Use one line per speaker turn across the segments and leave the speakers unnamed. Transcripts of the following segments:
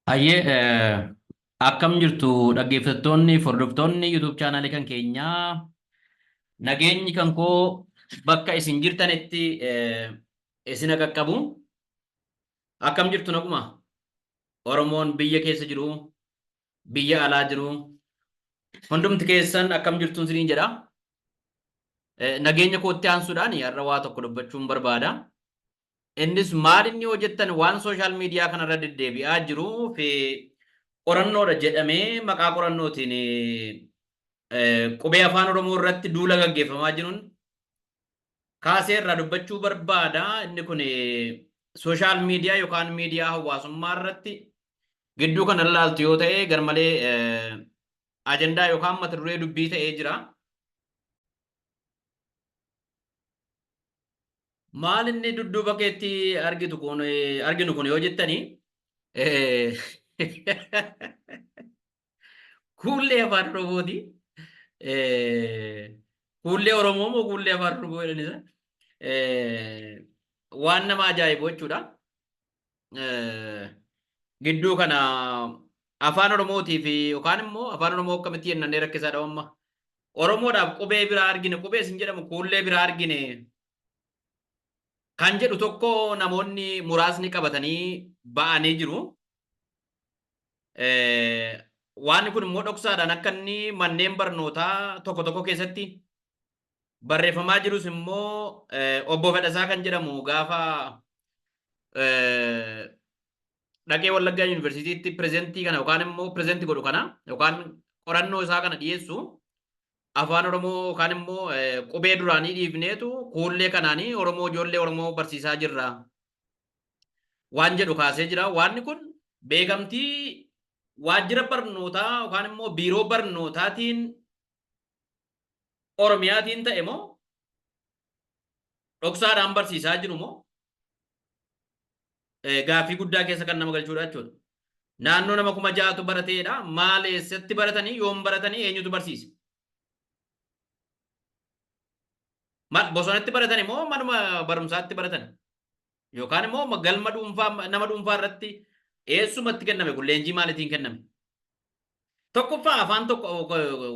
Hayyee akkam jirtu dhaggeeffattoonni fi hordoftoonni YouTube chaanaalii kan keenyaa nageenyi kan koo bakka isin jirtanitti isin haa qaqqabu. Akkam jirtu naguma? Oromoon biyya keessa jiru, biyya alaa jiru hundumti keessan akkam jirtuun isiniin jedha. Eh, Nageenya kootti aansuudhaan har'a waa tokko dubbachuun barbaada. Innis maal inni hojjettan waan sooshaal miidiyaa kanarra deddeebi'aa jiruu fi qorannoodha jedhamee maqaa qorannootiin eh, qubee afaan Oromoo irratti duula gaggeeffamaa jiruun kaasee irraa dubbachuu barbaada. Inni kun sooshaal miidiyaa yookaan miidiyaa hawaasummaa irratti gidduu kana ilaaltu yoo ta'e garmalee ajandaa yookaan mata duree dubbii ta'ee jira. Maal inni dudduuba keetti argitu kun arginu kun yoo jettani kuullee afaan Oromooti. Kuullee Oromoo moo kuullee afaan Oromoo jedhanisa? Waan nama ajaa'ibu jechuudha. gidduu kana afaan Oromootii fi yookaan immoo afaan Oromoo akkamitti jennannee rakkisaa dhabamma. Oromoodhaaf qubee biraa argine qubee isin jedhamu kuullee biraa argine kan jedhu tokko namoonni muraasni qabatanii ba'anii jiru. Waan kun immoo dhoksaadhaan akka inni manneen barnootaa tokko tokko keessatti barreeffamaa jirus immoo obbo Fedhasaa kan jedhamu gaafa dhaqee Wallaggaa Yuunivarsiitiitti pirezentii kana yookaan immoo pirezentii godhu kana yookaan qorannoo isaa kana dhiyeessu afaan Oromoo yookaan immoo qubee duraanii dhiifneetu kuullee kanaanii Oromoo ijoollee Oromoo barsiisaa jirra waan jedhu kaasee jira. Waanni kun beekamtii waajjira barnootaa yookaan immoo biiroo barnootaatiin Oromiyaatiin ta'e moo dhoksaadhaan barsiisaa jiru moo gaaffii guddaa keessa kan nama galchuudha jechuudha. Naannoo nama kuma ja'atu barateedha. Maal eessatti baratanii yoom baratanii eenyutu barsiise? Maal bosonatti baratani moo manuma barumsaatti baratani? Yookaan immoo galma dhuunfaa nama dhuunfaa irratti eessumatti kenname kun leenjii maalitiin kenname? Tokkoffaa afaan tokko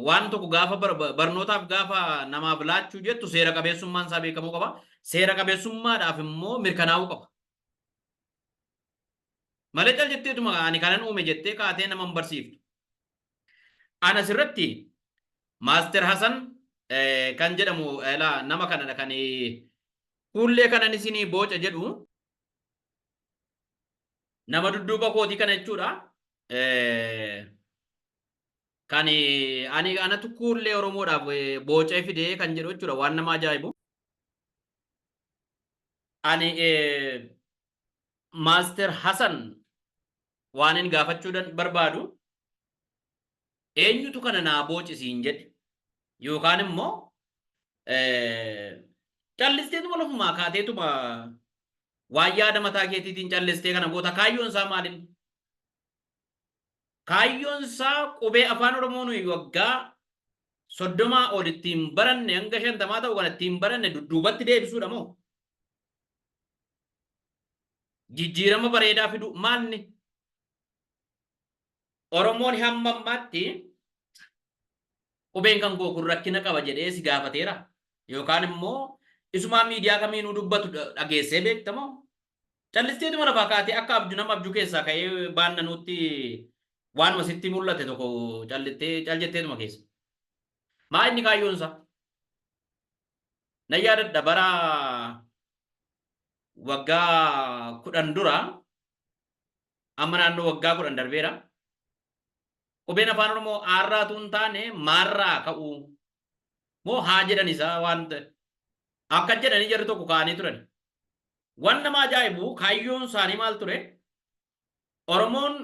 waan tokko gaafa barnootaaf gaafa namaaf laachuu jettu seera qabeessummaan isaa beekamuu qaba. Seera qabeessummaadhaaf immoo mirkanaa'uu qaba. Malee cal jetteetuma ani kanan uume jettee kaatee nama hin barsiiftu. Ana asirratti Maaster Hasan kan jedhamu nama kanadha kan Fuullee kanan isinii booca jedhu nama dudduuba kootii kana jechuudha. Kan ani anatu kuullee Oromoodhaaf boocee fidee kan jedhu jechuudha waan nama ajaa'ibu. Ani Maaster Hasan waanin gaafachuu barbaadu Eenyutu kana naa booci siin jedhe? Yookaan immoo callisteetuma lafumaa kaateetuma waan yaada mataa keetiitiin callistee kana goota kaayyoon isaa maalin? Kaayyoon isaa qubee afaan Oromoo nuyi waggaa soddomaa ol ittiin baranne hanga shantamaa ta'u kana ittiin baranne dudduubatti deebisuudha moo? Jijjiirama bareedaa fiduu maalni? Oromoon hamma ammaatti qubeen kan koo kun rakkina qaba jedhee si gaafateera yookaan immoo isumaa miidiyaa kamiinuu dubbatu dhageessee beekta moo callisteetuma lafaa kaatee akka abju nama abjuu keessaa ka'ee baannanuutti waanuma sitti mul'ate tokko callittee cal jetteetuma keessa. Maa inni kaayyoon isaa? Nan yaadadha bara waggaa kudhan dura Amma naannoo waggaa kudhan darbeera. Qubeen afaan Oromoo aarraa tuun taane maarraa ka'uu moo haa jedhan isaa waan akka jedhanii jarri tokko kaa'anii turan. Waan nama ajaa'ibu kaayyoon isaanii maal ture? Oromoon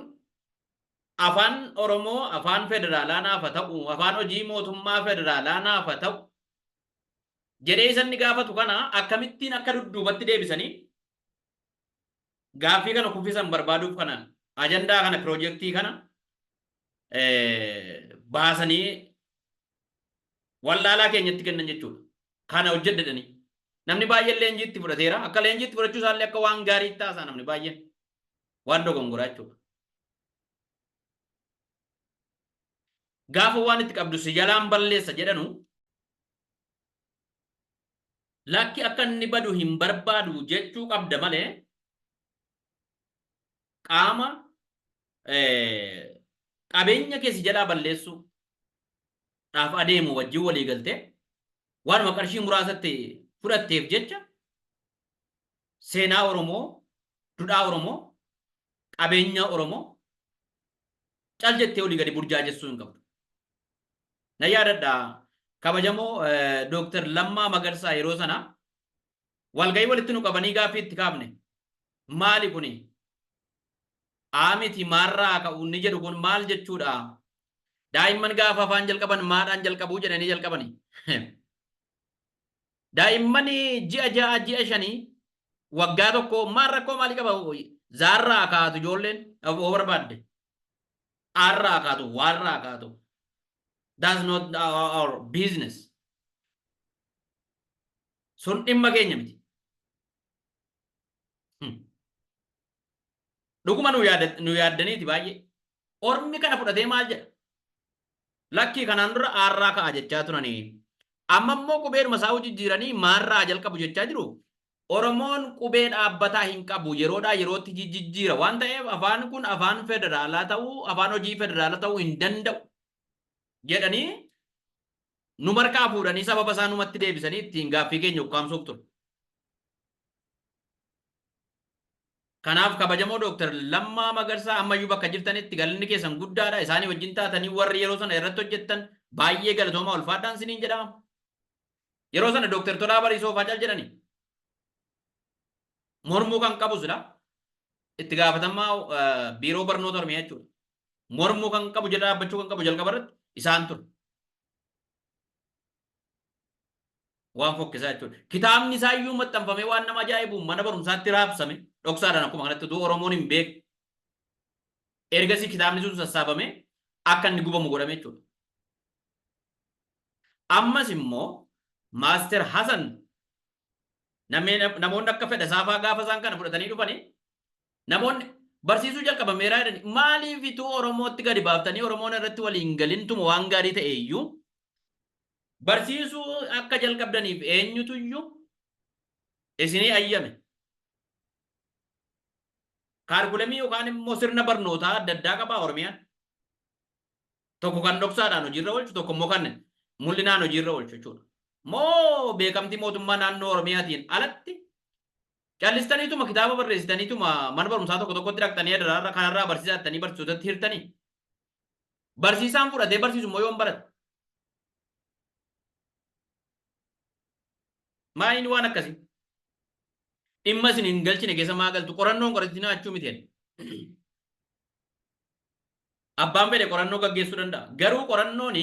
afaan Oromoo afaan federaalaa naafa ta'u, afaan hojii mootummaa federaalaa naafa ta'u jedhee isanni gaafatu kana akkamittiin akka dudduubatti deebisanii gaaffii kana kuffisan barbaaduuf kanaan ajandaa kana piroojeektii kana baasanii wallaalaa keenyatti kennan jechuudha. Kana hojjedhedhanii. Namni baay'een leenjiitti fudhateera. Akka leenjiitti fudhachuu isaallee akka waan gaarii itti haasaa namni baay'een. Waan dogongoraa jechuudha. Gaafa waan itti qabdu si jalaan balleessa jedhanu Lakki akka inni badu hin barbaadu jechuu qabda malee qaama qabeenya kee si jalaa balleessuu dhaaf adeemu wajjin walii galtee waanuma qarshii muraasatti fudhatteef jecha seenaa Oromoo, dudhaa Oromoo, qabeenya Oromoo cal jettee olii gadi burjaajessuu hin qabdu. Na yaadadha kabajamoo Dooktar Lammaa Magarsaa yeroo sana walgahii walitti nu qabanii gaaffii itti kaafne maali kuni aamiti maarraa ka'u inni jedhu kun maal jechuudha daa'imman gaafa afaan jalqaban maadhaan jalqabuu jedhanii jalqabani daa'imman ji'a ja'a ji'a shanii waggaa tokko maal rakkoo maalii qaba zaarraa kaatu ijoolleen dhaboo barbaadde Arra haa kaatu, waarra haa kaatu. That's not our, our business. Sun dhimma keenya miti. Hmm. Dhuguma nu yaada- nu yaaddaniiti baay'ee. Ormi kana fudhatee maal jedha? Lakkii kanaan dura aarraa ka'a jechaa turanii. Amma immoo qubeedhuma isaa jijjiiranii maarraa jalqabu jechaa jiru. Oromoon qubee dhaabbataa hin qabu, yeroodhaa yerootti jijjijjiira waan ta'eef afaan kun afaan federaalaa ta'uu, afaan hojii federaalaa ta'uu hin danda'u jedhanii nu markaa fuudhanii sababa isaa numatti deebisanii ittiin gaaffii keenya ukkaamsuuf ture. Kanaaf kabajamoo Dooktar Lammaa Magarsaa ammayyuu bakka jirtanitti galanni keessan guddaadha. Isaanii wajjin taatanii warri yeroo sana irratti hojjettan baay'ee galatoomaa ulfaadhaan isiniin jedhama. Yeroo sana Dooktar Tolaa Bariisoo faa cal jedhani. Mormuu kan qabu sila itti gaafatamaa biiroo barnoota Oromiyaa jechuudha. Mormuu kan qabu jedha dhaabbachuu kan qabu jalqaba irratti isaan ture. Waan fokkisaa jechuudha. Kitaabni isaa iyyuu maxxanfamee waan nama ajaa'ibu mana barumsaatti raabsame dhoksaadhaan akkuma kanatti utuu Oromoon hin beeku. Ergasii kitaabni sun sassaabamee akka inni gubamu godhame jechuudha. Ammas immoo Maaster Hasan namoonni akka fedha saafaa gaafa isaan kana fudhatanii dhufani namoonni barsiisuu jalqaban meeraa jedhani maaliif ituu Oromootti gadi baaftanii Oromoon irratti waliin galintuma waan gaarii ta'e iyyuu barsiisuu akka jalqabdaniif eenyutu iyyuu isinii ayyame. Kaarkulamii yookaan immoo sirna barnootaa adda addaa qabaa Oromiyaan. Tokko kan dhoksaadhaan hojiirra oolchu, tokko immoo kan mul'inaan hojiirra oolchu jechuudha. Moo beekamtii mootummaa naannoo Oromiyaatiin alatti callistaniituma kitaaba barreessitaniituma mana barumsaa tokko tokkotti dhaqxanii adaraarra kanarraa barsiisaa jettanii barsiisotatti hirtanii? Barsiisaan fudhatee barsiisu immoo yoom barate? Maaliin waan akkasii? Dhimma isin hin galchine keessa maa galtu? Qorannoon qoratinaa achuu miti jedhe. Abbaan fedhe qorannoo gaggeessuu danda'a. Garuu qorannoon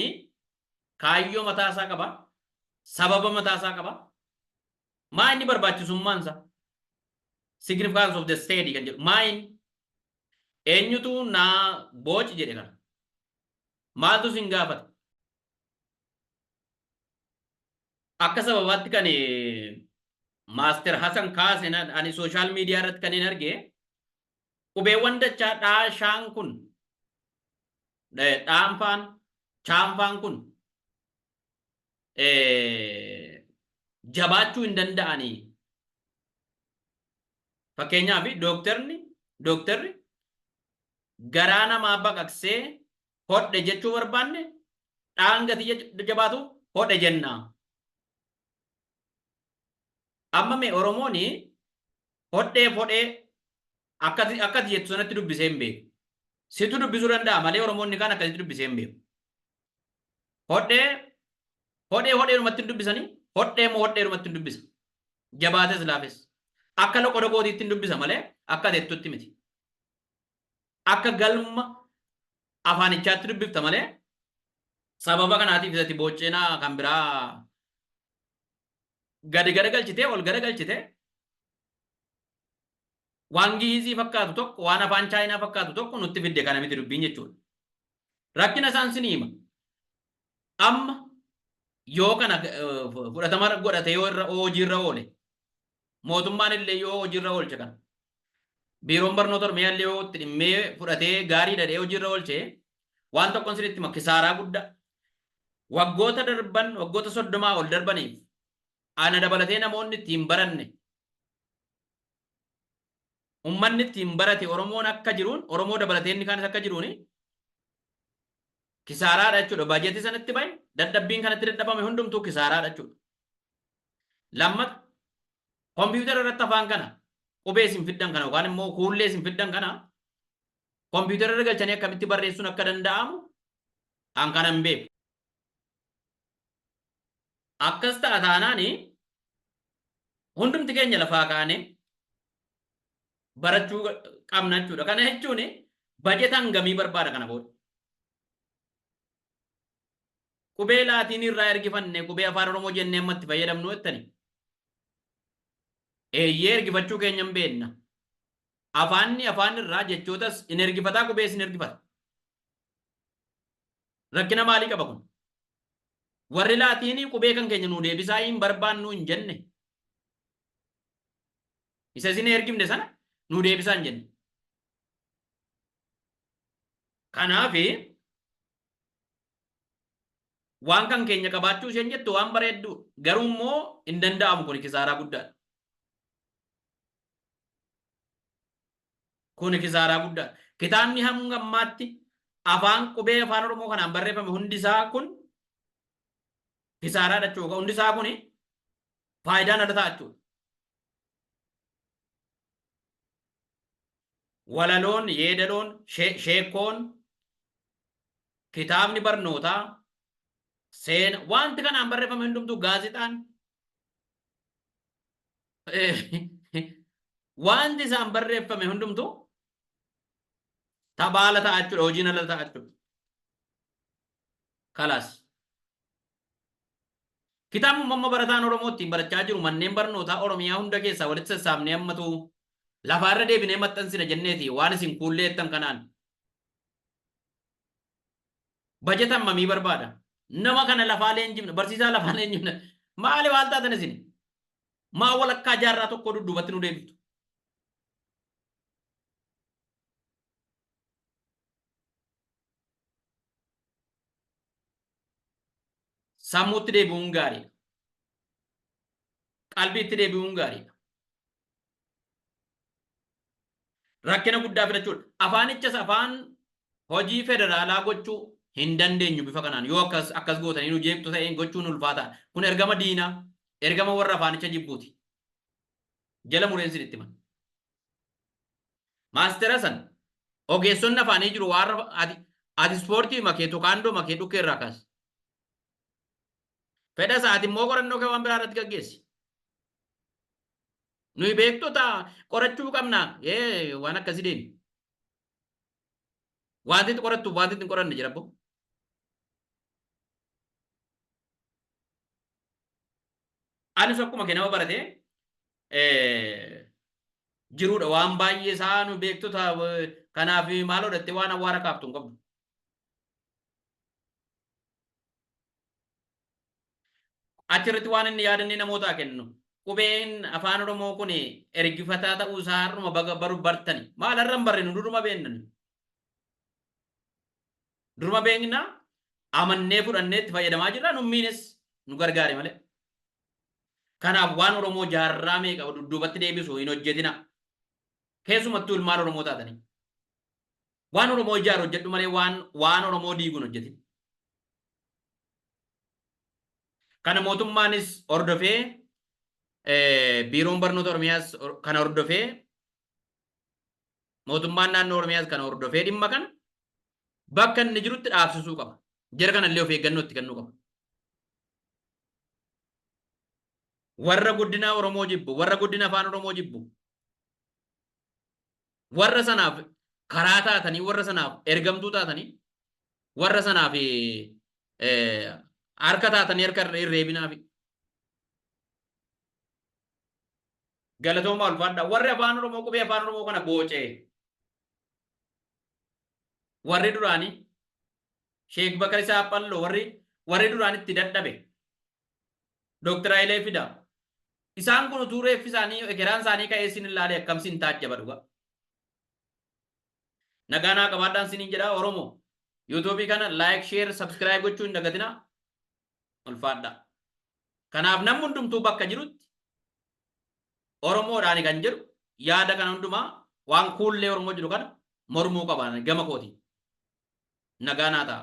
kaayyoo mataa isaa qaba, sababa mataa isaa qaba. Maa inni barbaachisummaan isaa? Significance of the study kan jedhu. Maa inni? Eenyutu naa booci jedhe kana? Maaltu sin gaafate? Akka sababaatti kan Maaster Hasan kaase ani sooshaal miidiyaa irratti kan hin arge Qubeewwan dachaa dhaa shaan kun dhaanfaan chaanfaan kun jabaachuu hin danda'anii. Fakkeenyaaf dooktarni dooktarri garaa namaa baqaqsee hodhe jechuu barbaanne dhaan gatii jabaatu hodhe jenna. Amma mee Oromoon Hodheef hodhee akkati akkati jettu sanatti dubbisee hin beeku. Situ dubbisuu danda'a malee Oromoonni kaan akkasitti dubbisee hin beeku. Hodhee hodhee hodheerumatti hin dubbisanii hodhee moo hodheerumatti hin dubbisa. Jabaates laafes. Akka loqodogootiitti hin dubbisa malee akka jettutti miti. Akka galma afaanichaatti dubbifta malee sababa kanaatiif isati boocceenaa kan biraa gadi garagalchitee ol garagalchitee waan giizii fakkaatu tokko waan afaan chaayinaa fakkaatu tokko nutti fidde kana miti dubbiin jechuudha. Rakkina isaan sin hima. Amma yoo kana eh, fudhatama godhate yoo irra hojiirra oole mootummaan illee yoo hojiirra oolche kana biiroon barnoota Oromiyaa illee yoo itti dhimmee fudhatee gaarii dhadhee hojiirra oolche waan tokkon sinitti hima kisaaraa guddaa waggoota darban waggoota soddomaa ol darbaniif ana dabalatee namoonni itti hin baranne ummanni itti hin barate Oromoon akka jiruun Oromoo dabalatee inni kaanis akka jiruuni kisaaraadha jechuudha. Baajetii sanatti bahe dadhabbiin kanatti dadhabame hundumtuu kisaaraadha jechuudha. Lammata, kompiitara irratti afaan kana qubee isin fiddan kana yookaan immoo kuullee isin fiddan kana kompiitara irra galchanii akkamitti barreessuun akka danda'amu an kana hin beeku. Akkas ta'a taanaan hundumti keenya lafaa kaane barachuu qabna jechuudha. Kana jechuun bajeta hangamii barbaada kana booda. Qubee Laatiinii irraa ergifanne qubee Afaan Oromoo jennee amma itti fayyadamnu jettanii? Eeyyee ergifachuu keenya hin beekna. Afaanni afaan irraa jechootas hin ergifataa qubees hin ergifata. Rakkina maalii qaba kun? Warri Laatiinii qubee kan keenya nuu deebisaa hin barbaannu hin jenne. Isa isin ergifne sana nuu deebisaa hin jenne. Kanaaf Waan kan keenya qabaachuu isheen jettu waan bareedduu garuu immoo hin danda'amu kuni kisaaraa guddaadha. Kuni kisaaraa guddaadha. Kitaabni hanga ammaatti afaan qubee afaan Oromoo kanaan barreeffame hundi isaa kun kisaaraadha jechuudha. Hundi isaa kuni faayidaan ala ta'a jechuudha. Walaloon, yeedaloon, sheekkoon, kitaabni barnootaa, seena, wanti kanaan barreeffame hundumtuu gaazexaan wanti isaan barreeffame hundumtuu tabaala ta'a jechuudha, hojiin ala ta'a jechuudha. Kalaas. Kitaabni uumamma barataan Oromoo ittiin barachaa jiru manneen barnootaa Oromiyaa hunda keessaa walitti sassaabnee ammatu lafaa irra deebinee maxxansina jenneeti waan isin kuullee jettan kanaan. Bajeta hammamii barbaada? Nama kana lafaa leenjifna, barsiisaa lafaa leenjifna. Maali waal taatan isin? Maa walakkaa jaarraa tokkoo dudduubatti nu deebiftu? Sammuutti deebi'uun gaariidha. Qalbiitti deebi'uun gaariidha. Rakkina guddaa fidachuudha. Afaanichas afaan hojii federaalaa gochuu hin dandeenyu bifa kanaan yoo akkas akkas gootanii nu jeeqtu ta'een gochuun ulfaataa. Kun ergama diinaa, ergama warra afaanicha jibbuuti. Jala mureen sin itti himan. Maastera san ogeessonni afaanii jiru waan rafa ati ati ispoortii makee tokaandoo makee dhukkee irraa kaasi. Fedha isaa ati immoo qorannoo kee waan biraa irratti gaggeessi. Nuyi beektota qorachuu qabna ee waan akkasii deemi. Wanti itti qorattuuf wanti itti hin qoranne jira boo. Anis akkuma kee nama baratee jiruudha waan baay'ee isaa nu beektota kanaaf maaloo dhatte waan awwaara kaaftu hin qabdu. Achirratti waan inni yaadannee namootaa kennu qubeen afaan oromoo kun ergifataa ta'uu isaa har'uma baga baru bartani maal har'a hin barrinu duruma beennan duruma beekna amannee fudhannee itti fayyadamaa jirra nummiinis nu gargaare malee Kanaaf waan Oromoo jaarraa meeqa dudduubatti deebisu hin hojjetinaa. Keessumattuu ilmaan Oromoo taatanii. Waan Oromoo ijaaru hojjedhu malee waan waan Oromoo diigu hin hojjetin. Kana mootummaanis hordofee eh, biiroon barnoota Oromiyaas hor- kana hordofee mootummaan naannoo Oromiyaas kana hordofee dhimma kana bakka inni jirutti dhaabsisuu qaba. Jara kanallee of eeggannoo itti kennuu qaba. Warra guddina Oromoo jibbu, warra guddina Afaan Oromoo jibbu, warra sanaaf karaa taatanii, warra sanaaf ergamtuu taatanii, warra sanaaf harka taatanii harka hin reebinaafi. Galatoomaa ulfaadhaa. Warri Afaan Oromoo qubee Afaan Oromoo kana boocee warri duraanii Sheek Bakari Saaphalloo warri warri duraan itti dadhabe. Dooktar Hayilee Fidaa. Isaan kun utuu reeffi isaanii ekeraan isaanii ka'ee sin ilaalee akkam sin taajjaba dhugaa. Nagaa naa qabaadhaan siniin jedha Oromoo. Yuutuubii kana like, share, subscribe gochuu hin dagatinaa. Ulfaadhaa. Kanaaf namni hundumtuu bakka jirutti Oromoodhaani kan jedhu yaada kana hundumaa waan kuullee Oromoo jiru kana mormuu qaba gama kootiin. Nagaa naa ta'a.